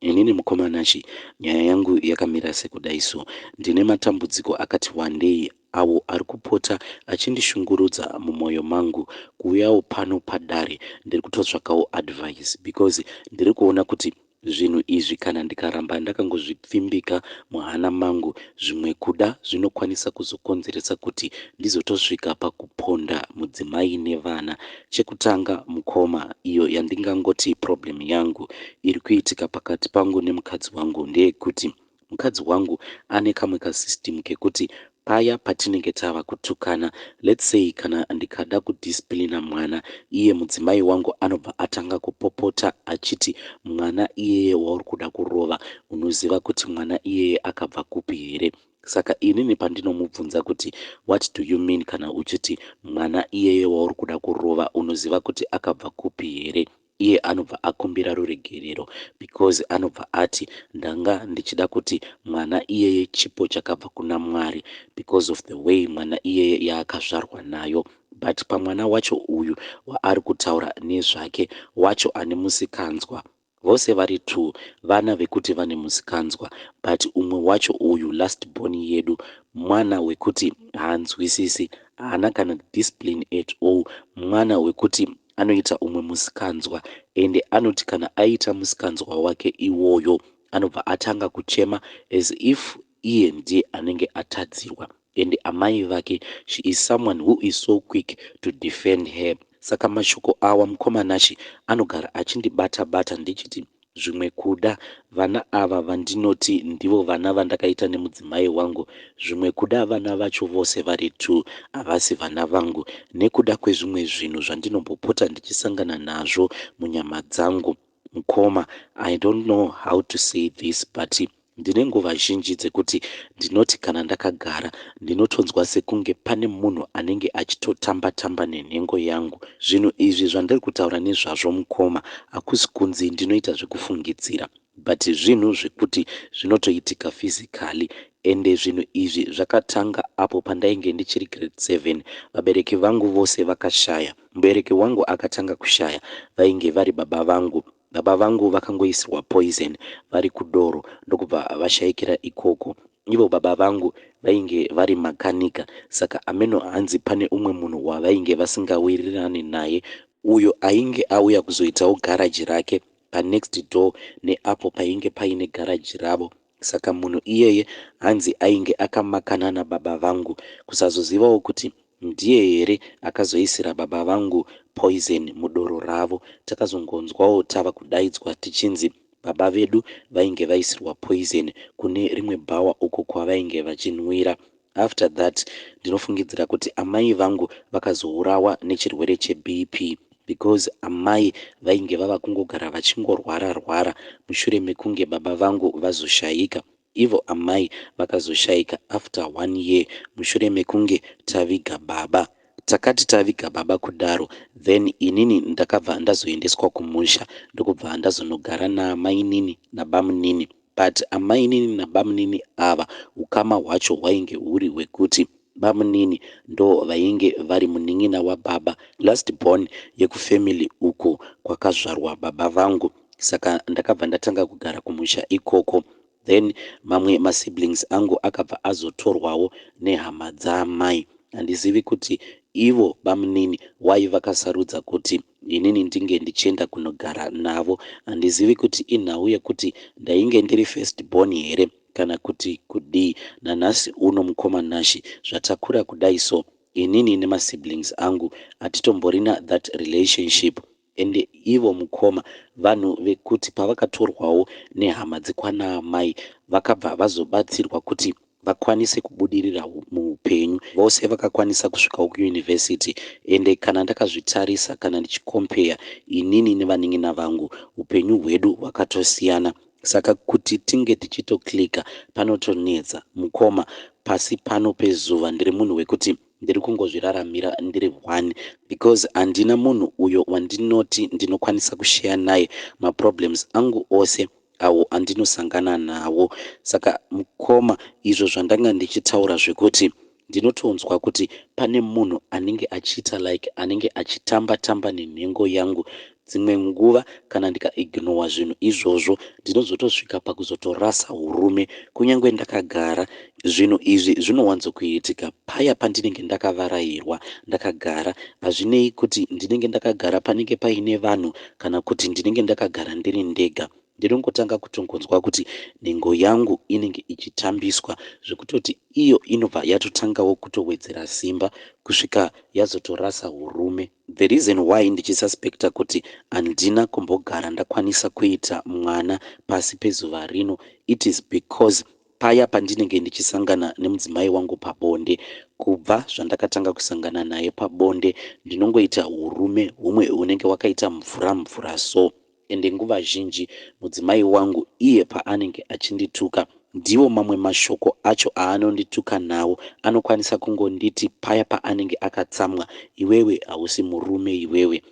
Inini mukoma Nashy nyaya yangu yakamira sekudai so. Ndine matambudziko akati wandei awo ari kupota achindishungurudza mumoyo mangu. Kuuyawo pano padare ndiri kutotsvakawo advice because ndiri kuona kuti zvinhu izvi kana ndikaramba ndakangozvipfimbika muhana mangu zvimwe kuda zvinokwanisa kuzokonzeresa kuti ndizotosvika pakuponda mudzimai nevana Chekutanga mukoma iyo yandingangoti problem yangu iri kuitika pakati pangu nemukadzi wangu ndeyekuti mukadzi wangu ane kamwe ka system kekuti paya patinenge tava kutukana let's say kana ndikada ku discipliner mwana iye mudzimai wangu anobva atanga kupopota achiti mwana iyeye wauri kuda kurova unoziva kuti mwana iyeye akabva kupi here Saka inini pandinomubvunza kuti what do you mean kana uchiti mwana iyeye wauri kuda kurova unoziva kuti akabva kupi here? Iye anobva akumbira ruregerero because anobva ati ndanga ndichida kuti mwana iyeye chipo chakabva kuna Mwari because of the way mwana iyeye yaakazvarwa nayo but pamwana wacho uyu waari kutaura nezvake wacho ane musikanzwa Vose vari two vana vekuti vane musikanzwa but umwe wacho uyu last born yedu mwana wekuti haanzwisisi haana kana discipline at all mwana wekuti anoita umwe musikanzwa ende anoti kana aita musikanzwa wake iwoyo anobva atanga kuchema as if iye ndiye anenge atadzirwa and amai vake she is someone who is so quick to defend her saka mashoko awa mukoma Nashy anogara achindibata bata ndichiti zvimwe kuda vana ava vandinoti ndivo vana vandakaita nemudzimai wangu zvimwe kuda vana vacho vose vari two havasi vana vangu nekuda kwezvimwe zvinhu zvandinombopota ndichisangana nazvo munyama dzangu Mkoma I don't know how to say this but ndine nguva zhinji dzekuti ndinoti kana ndakagara ndinotonzwa sekunge pane munhu anenge achitotamba tamba nenhengo yangu. Zvinhu izvi zvandiri kutaura nezvazvo mkoma hakusi kunzi ndinoita zvekufungidzira but zvinhu zvekuti zvinotoitika physically ende zvinhu izvi zvakatanga apo pandainge ndichiri grade seven vabereki vangu vose vakashaya Mubereki wangu akatanga kushaya vainge vari baba vangu. Baba vangu vakangoisirwa poison vari kudoro ndokubva vashaikira ikoko. Ivo baba vangu vainge vari makanika saka ameno hanzi pane umwe munhu wavainge vasingawirirane naye uyo ainge auya kuzoitawo garage rake panext door neapo painge paine garage ravo. Saka munhu iyeye hanzi ainge akamakana nababa vangu kusazozivawo kuti ndiye here akazoisira baba vangu poison mudoro ravo. Takazongonzwawo tava kudaidzwa tichinzi baba vedu vainge vaisirwa poison kune rimwe bhawa uko kwavainge vachinwira. After that ndinofungidzira kuti amai vangu vakazourawa nechirwere cheBP because amai vainge vava kungogara vachingorwara rwara mushure mekunge baba vangu vazoshaika. Ivo amai vakazoshaika after one year mushure mekunge taviga baba. Takati taviga baba kudaro then inini ndakabva ndazoendeswa kumusha ndokubva ndazonogara naamainini nabamunini. But amainini nabamunini ava ukama hwacho hwainge huri hwekuti bamunini ndovainge vari munin'ina wababa, last born yekufamily uku kwakazvarwa baba vangu saka ndakabva ndatanga kugara kumusha ikoko then mamwe masiblings angu akabva azotorwawo nehama dzaamai. Handizivi kuti Ivo bamunini why vakasarudza kuti inini ndinge ndichienda kunogara navo. Handizivi kuti inhau yekuti ndainge ndiri first born here kana kuti kudii. Nanhasi uno mukoma Nashy zvatakura kudai so inini nemasiblings angu hatitomborina that relationship Ende ivo mukoma vanhu vekuti pavakatorwawo nehama dzekwana amai vakabva vazobatsirwa kuti vakwanise kubudirira muhupenyu vose vakakwanisa kusvikawo kuuniversity ende kana ndakazvitarisa kana ndichikompeya inini nevanin'ina vangu hupenyu hwedu hwakatosiyana saka kuti tinge tichitoclicker panotonetsa mukoma pasi pano pezuva ndiri munhu wekuti ndiri kungozviraramira ndiri one because handina munhu uyo wandinoti ndinokwanisa kusheya naye maproblems angu ose awo andinosangana nawo saka mukoma izvo zvandanga ndichitaura zvekuti ndinotonzwa kuti pane munhu anenge achiita like anenge achitamba tamba nenhengo yangu Dzimwe nguva kana ndika ignowa zvinhu izvozvo ndinozotosvika pakuzotorasa hurume kunyangwe ndakagara. Zvinhu izvi zvinowanzo kuitika paya pandinenge ndakavarairwa ndakagara hazvinei kuti ndinenge ndakagara panenge paine vanhu kana kuti ndinenge ndakagara ndiri ndega. ndinongotanga kutongonzwa kuti nhengo yangu inenge ichitambiswa zvekutoti iyo inobva yatotangawo kutowedzera simba kusvika yazotorasa urume. The reason why ndichisuspecta kuti handina kumbogara ndakwanisa kuita mwana pasi pezuva rino it is because paya pandinenge ndichisangana nemudzimai wangu pabonde kubva zvandakatanga kusangana naye pabonde ndinongoita urume humwe hunenge wakaita mvura mvura so Ende nguva zhinji mudzimai wangu iye paanenge achindituka ndiwo mamwe mashoko acho aanondituka nawo. Anokwanisa kungonditi paya paanenge akatsamwa, Iwewe hausi murume iwewe.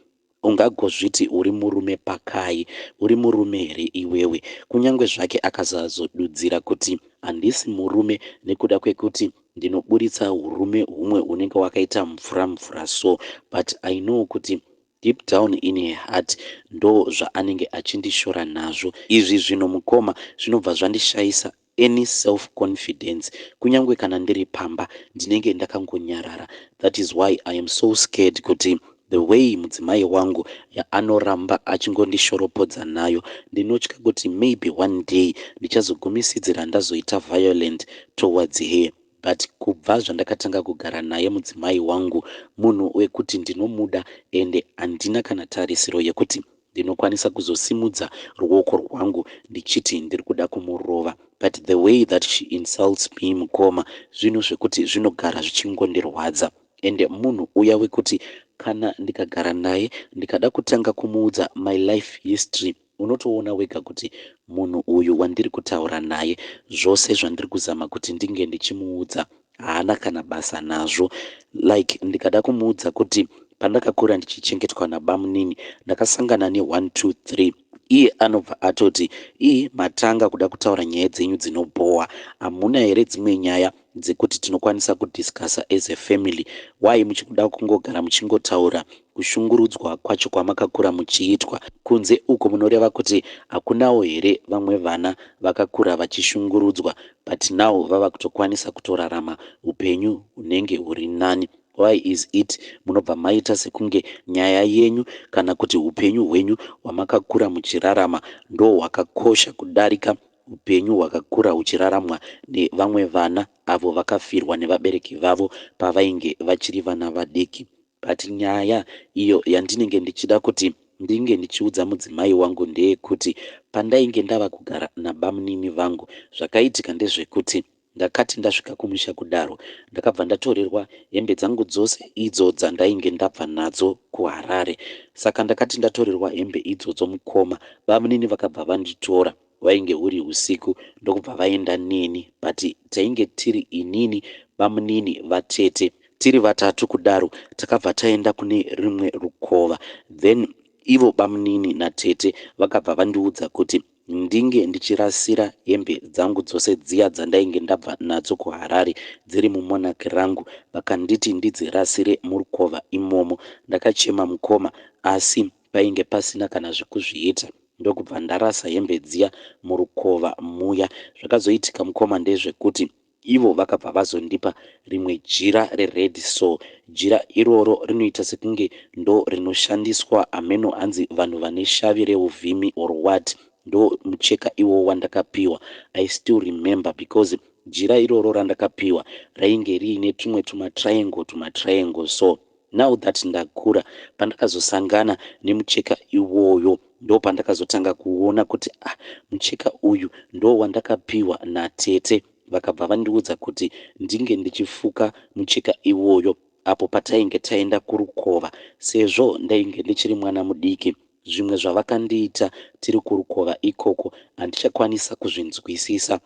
Ungagozviti uri murume pakai? Uri murume here iwewe? Kunyangwe zvake akasazodudzira kuti handisi murume nekuda kwekuti ndinoburitsa hurume humwe hunenge wakaita mvura mvura so but I know kuti Deep down in her heart ndo zvaanenge achindishora nazvo izvi zvinhu mukoma zvinobva zvandishaisa any self confidence kunyangwe kana ndiri pamba ndinenge ndakangonyarara that is why I am so scared kuti the way mudzimai wangu yaanoramba achingondishoropodza nayo ndinotya kuti maybe one day ndichazogumisidzira ndazoita violent towards her but kubva zvandakatanga kugara naye mudzimai wangu munhu wekuti ndinomuda ende handina kana tarisiro yekuti ndinokwanisa kuzosimudza ruoko rwangu ndichiti ndiri kuda kumurova but the way that she insults me mukoma zvinhu zvekuti zvinogara zvichingondirwadza ende munhu uya wekuti kana ndikagara naye ndikada kutanga kumuudza my life history Unotoona wega kuti munhu uyu wandiri kutaura naye, zvose zvandiri kuzama kuti ndinge ndichimuudza haana kana basa nazvo. Like ndikada kumuudza kuti pandakakura ndichichengetwa nabamunini ndakasangana ne one two three iye anobva atoti ii matanga kuda kutaura nyaya dzenyu dzinobhowa hamuna here dzimwe nyaya dzekuti tinokwanisa ku discusser as a family why muchikuda kungogara muchingotaura kushungurudzwa kwacho kwamakakura muchiitwa kunze uko munoreva kuti hakunawo here vamwe vana vakakura vachishungurudzwa but now vava kutokwanisa kutorarama hupenyu hunenge huri nani why is it munobva maita sekunge nyaya yenyu kana kuti hupenyu hwenyu hwamakakura muchirarama ndohwakakosha kudarika Upenyu hwakakura huchiraramwa nevamwe vana avo vakafirwa nevabereki vavo pavainge vachiri vana vadiki. But nyaya iyo yandinenge ndichida kuti ndinge ndichiudza mudzimai wangu ndeyekuti pandainge ndava kugara nabamunini vangu zvakaitika ndezvekuti Ndakati ndasvika kumusha kudaro ndakabva ndatorerwa hembe dzangu dzose idzo dzandainge ndabva nadzo kuHarare. Saka ndakati ndatorerwa hembe idzodzo mukoma bamunini vakabva vanditora hwainge huri husiku ndokubva vaenda neni but tainge tiri inini, bamunini, vatete tiri vatatu kudaro takabva taenda kune rimwe rukova then ivo bamunini natete vakabva vandiudza kuti Ndinge ndichirasira hembe dzangu dzose dziya dzandainge ndabva nadzo kuHarare dziri mumonarch rangu vakanditi ndidzirasire murukova imomo. Ndakachema mukoma asi painge pasina kana zvekuzviita ndokubva ndarasa hembe dziya murukova muya. Zvakazoitika mukoma ndezvekuti Ivo vakabva vazondipa rimwe jira rered so jira iroro rinoita sekunge ndo rinoshandiswa hameno hanzi vanhu vane shavi reuvhimi or what ndo mucheka iwowo wandakapiwa I still remember because jira iroro randakapiwa rainge riine tumwe tumatriangle tumatriangle so Now that ndakura pandakazosangana nemucheka iwoyo ndopandakazotanga kuona kuti ah mucheka uyu ndowandakapihwa natete vakabva vandiudza kuti ndinge ndichifuka mucheka iwoyo apo patainge taenda kurukova sezvo ndainge ndichiri mwana mudiki zvimwe zvavakandiita tiri kurukova ikoko handichakwanisa kuzvinzwisisa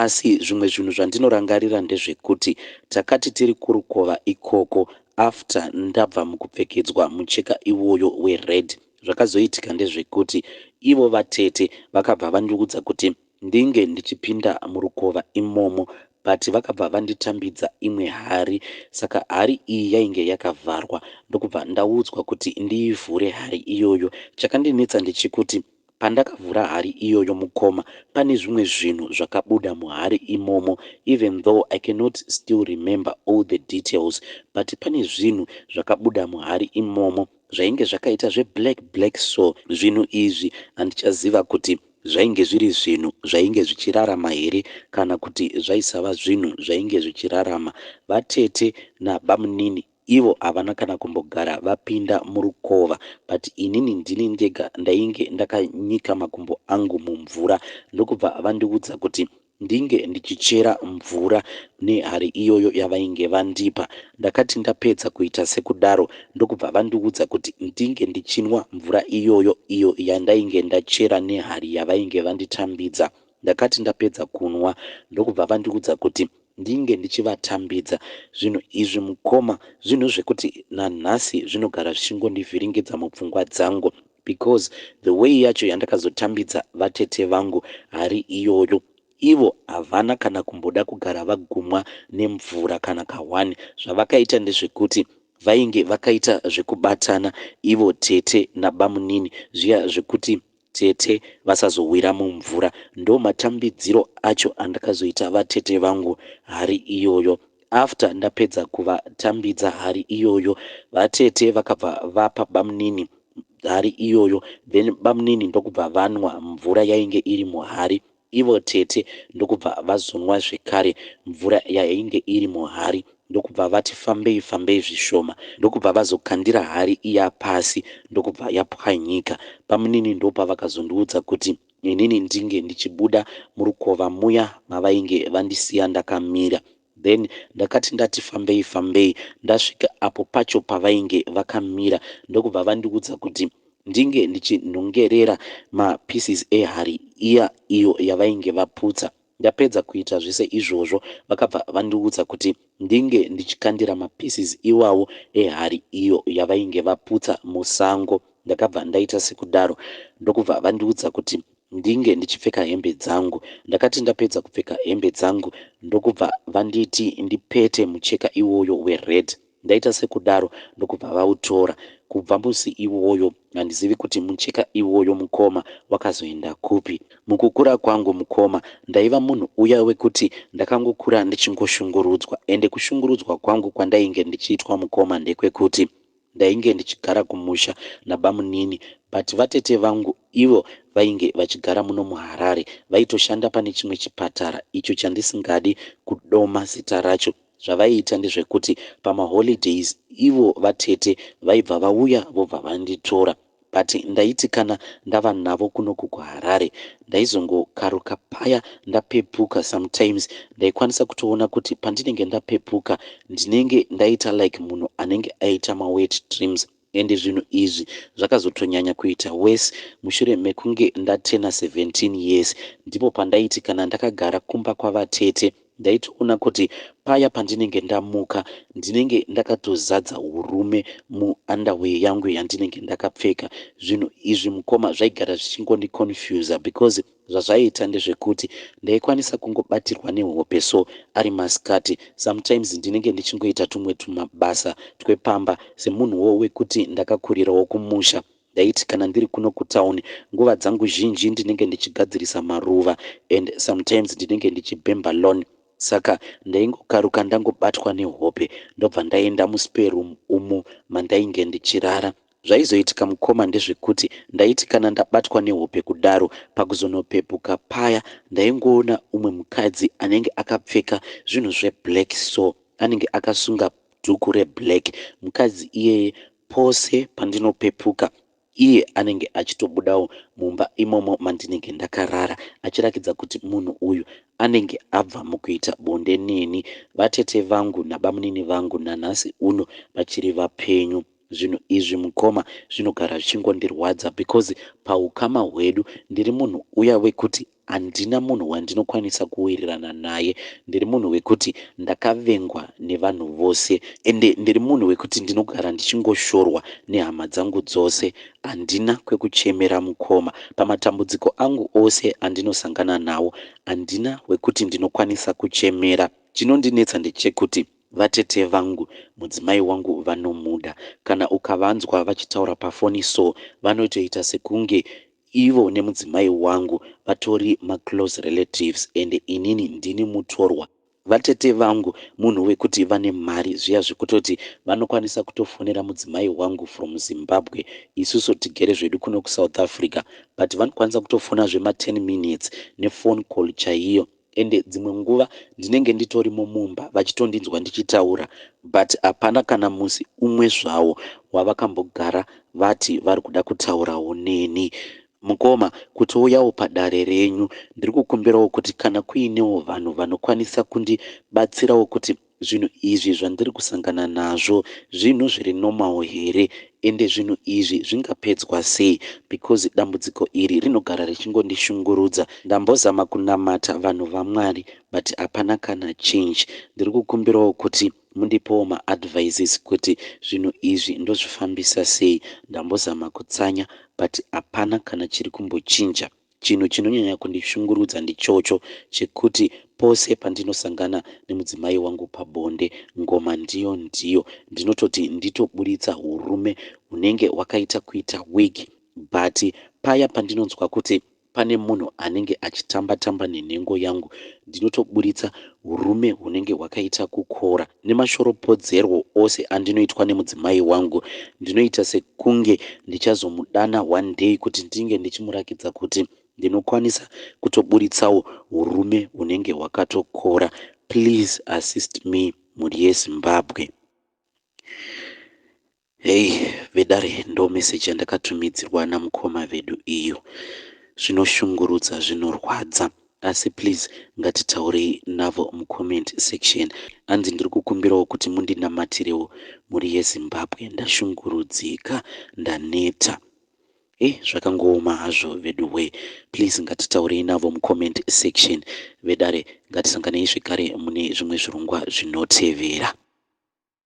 Asi zvimwe zvinhu zvandinorangarira ndezvekuti takati tiri kurukova ikoko after ndabva mukupfekedzwa mucheka iwoyo wered zvakazoitika ndezvekuti ivo vatete vakabva vandiudza kuti ndinge ndichipinda murukova imomo but vakabva vanditambidza imwe hari saka hari iyi yainge yakavharwa ndokubva ndaudzwa kuti ndiivhure hari iyoyo chakandinetsa ndechekuti Pandakavhura hari iyoyo mukoma pane zvimwe zvinhu zvakabuda muhari imomo even though I cannot still remember all the details but pane zvinhu zvakabuda muhari imomo zvainge zvakaita zve black black so zvinhu izvi handichaziva kuti zvainge zviri zvinhu zvainge zvichirarama here kana kuti zvaisava zvinhu zvainge zvichirarama vatete nabamunini Ivo havana kana kumbogara vapinda murukova but inini ndini ndega ndainge ndakanyika makumbo angu mumvura ndokubva vandiudza kuti ndinge ndichichera mvura nehari iyoyo yavainge vandipa. Ndakati ndapedza kuita sekudaro ndokubva vandiudza kuti ndinge ndichinwa mvura iyoyo iyo yandainge ndachera nehari yavainge vanditambidza. Ndakati ndapedza kunwa ndokubva vandiudza kuti ndinge ndichivatambidza zvinhu izvi mukoma zvinhu zvekuti nanhasi zvinogara zvichingondivhiringidza mupfungwa dzangu because the way yacho yandakazotambidza vatete vangu hari iyoyo ivo havana kana kumboda kugara vagumwa nemvura kana kahwani zvavakaita ndezvekuti vainge vakaita zvekubatana ivo tete nabamunini zviya zvekuti tete vasazowira mumvura ndomatambidziro acho andakazoita vatete vangu hari iyoyo after ndapedza kuvatambidza hari iyoyo vatete vakabva vapa bamunini hari iyoyo then bamunini ndokubva vanwa mvura yainge iri muhari Ivo tete ndokubva vazonwa zvekare mvura yainge iri muhari ndokubva vati fambei fambei zvishoma ndokubva vazokandira hari iya pasi ndokubva yapwanyika. Bamunini ndopavakazondiudza kuti inini ndinge ndichibuda murukova muya mavainge vandisiya ndakamira. Then ndakati ndati fambei fambei ndasvika apo pacho pavainge vakamira ndokubva vandiudza kuti ndinge ndichinhongerera ma pieces ehari iya iyo yavainge vaputsa. Ndapedza kuita zvese izvozvo vakabva vandiudza kuti ndinge ndichikandira ma pieces iwawo ehari iyo yavainge vaputsa musango. Ndakabva ndaita sekudaro ndokubva vandiudza kuti ndinge ndichipfeka hembe dzangu. Ndakati ndapedza kupfeka hembe dzangu ndokubva vanditi ndipete mucheka iwoyo wered. Ndaita sekudaro ndokubva vautora. Kubva musi iwoyo handizivi kuti mucheka iwoyo mukoma wakazoenda kupi. Mukukura kwangu mukoma ndaiva munhu uya wekuti ndakangokura ndichingoshungurudzwa ende kushungurudzwa kwangu kwandainge ndichiitwa mukoma ndekwekuti. Ndainge ndichigara kumusha nabamunini but vatete vangu ivo vainge vachigara muno muHarare vaitoshanda pane chimwe chipatara icho chandisingadi kudoma zita racho. Zvavaiita ndezvekuti pamaholidays ivo vatete vaibva vauya vobva vanditora. But ndaiti kana ndava navo kunoku kuHarare ndaizongokaruka paya ndapepuka sometimes ndaikwanisa kutoona kuti pandinenge ndapepuka ndinenge ndaita like munhu anenge aita mawet dreams and zvinhu izvi zvakazotonyanya kuita worse mushure mekunge ndatena 17 years ndipo pandaiti kana ndakagara kumba kwavatete Ndaitoona kuti paya pandinenge ndamuka ndinenge ndakatozadza urume mu underwear yangu yandinenge ndakapfeka. Zvinhu izvi mukoma zvaigara zvichingondi confuser because zvazvaiita ndezvekuti ndaikwanisa kungobatirwa nehope so ari masikati. Sometimes ndinenge ndichingoita tumwe tumabasa twepamba semunhuwo wekuti ndakakurirawo kumusha. Ndaiti kana ndiri kuno kutown nguva dzangu zhinji ndinenge ndichigadzirisa maruva and sometimes ndinenge ndichibhemba lawn saka ndaingokaruka ndangobatwa nehope ndobva ndaenda muspare room umo mandainge ndichirara. Zvaizoitika mukoma ndezvekuti ndaiti kana ndabatwa nehope kudaro pakuzonopepuka paya ndaingoona umwe mukadzi anenge akapfeka zvinhu zveblack so anenge akasunga dhuku reblack. Mukadzi iyeye Pose pandinopepuka iye anenge achitobudawo mumba imomo mandinenge ndakarara achirakidza kuti munhu uyu anenge abva mukuita bonde neni. Vatete vangu nabamunini vangu nanhasi uno vachiri vapenyu. Zvinhu izvi mukoma zvinogara zvichingondirwadza because pahukama hwedu ndiri munhu uya wekuti Handina munhu wandinokwanisa kuwirirana naye. Ndiri munhu wekuti ndakavengwa nevanhu vose ende ndiri munhu wekuti ndinogara ndichingoshorwa nehama dzangu dzose. Handina kwekuchemera mukoma. Pamatambudziko angu ose andinosangana nawo handina wekuti ndinokwanisa kuchemera. Chinondinetsa ndechekuti vatete vangu mudzimai wangu vanomuda. Kana ukavanzwa vachitaura pafoni so vanotoita sekunge Ivo nemudzimai wangu vatori maclose relatives and inini ndini mutorwa. Vatete vangu munhu wekuti vane mari zviya zvekutoti vanokwanisa kutofonera mudzimai wangu from Zimbabwe isusu tigere zvedu kuno kuSouth Africa but vanokwanisa kutofona zvema ten minutes nephone call chaiyo. ende dzimwe nguva ndinenge nditorimo mumba vachitondinzwa ndichitaura but hapana kana musi umwe zvawo wavakambogara vati vari kuda kutaurawo neni. Mukoma, kutouyawo padare renyu ndiri kukumbirawo kuti kana kuinewo vanhu vanokwanisa kundibatsirawo kuti Zvinhu izvi zvandiri kusangana nazvo zvinhu zviri normal here ende zvinhu izvi zvingapedzwa sei because dambudziko iri rinogara richingondishungurudza. Ndambozama kunamata vanhu vaMwari but hapana kana change. Ndiri kukumbirawo kuti mundipewo maadvices kuti zvinhu izvi ndozvifambisa sei. Ndambozama kutsanya but hapana kana chiri kumbochinja. Chinhu chinonyanya kundishungurudza ndichocho chekuti pose pandinosangana nemudzimai wangu pabonde, ngoma ndiyo ndiyo. Ndinototi nditoburitsa hurume hunenge hwakaita kuita wig but paya pandinonzwa kuti pane munhu anenge achitamba tamba nenhengo yangu ndinotoburitsa hurume hunenge hwakaita kukora. Nemashoropodzerwo ose andinoitwa nemudzimai wangu, ndinoita sekunge ndichazomudana one day kuti ndinge ndichimurakidza kuti ndinokwanisa kutoburitsawo hurume hunenge hwakatokora. Please assist me mhuri yeZimbabwe. Hey vedare ndo message yandakatumidzirwa namukoma vedu iyo. Zvinoshungurudza zvinorwadza asi please ngatitaurei navo mucomment section hanzi ndiri kukumbirawo kuti mundinamatirewo mhuri yezimbabwe ndashungurudzika ndaneta e zvakangooma hazvo vedu we please ngatitaurei navo mucomment section vedare ngatisanganei zvekare mune zvimwe zvirongwa zvinotevera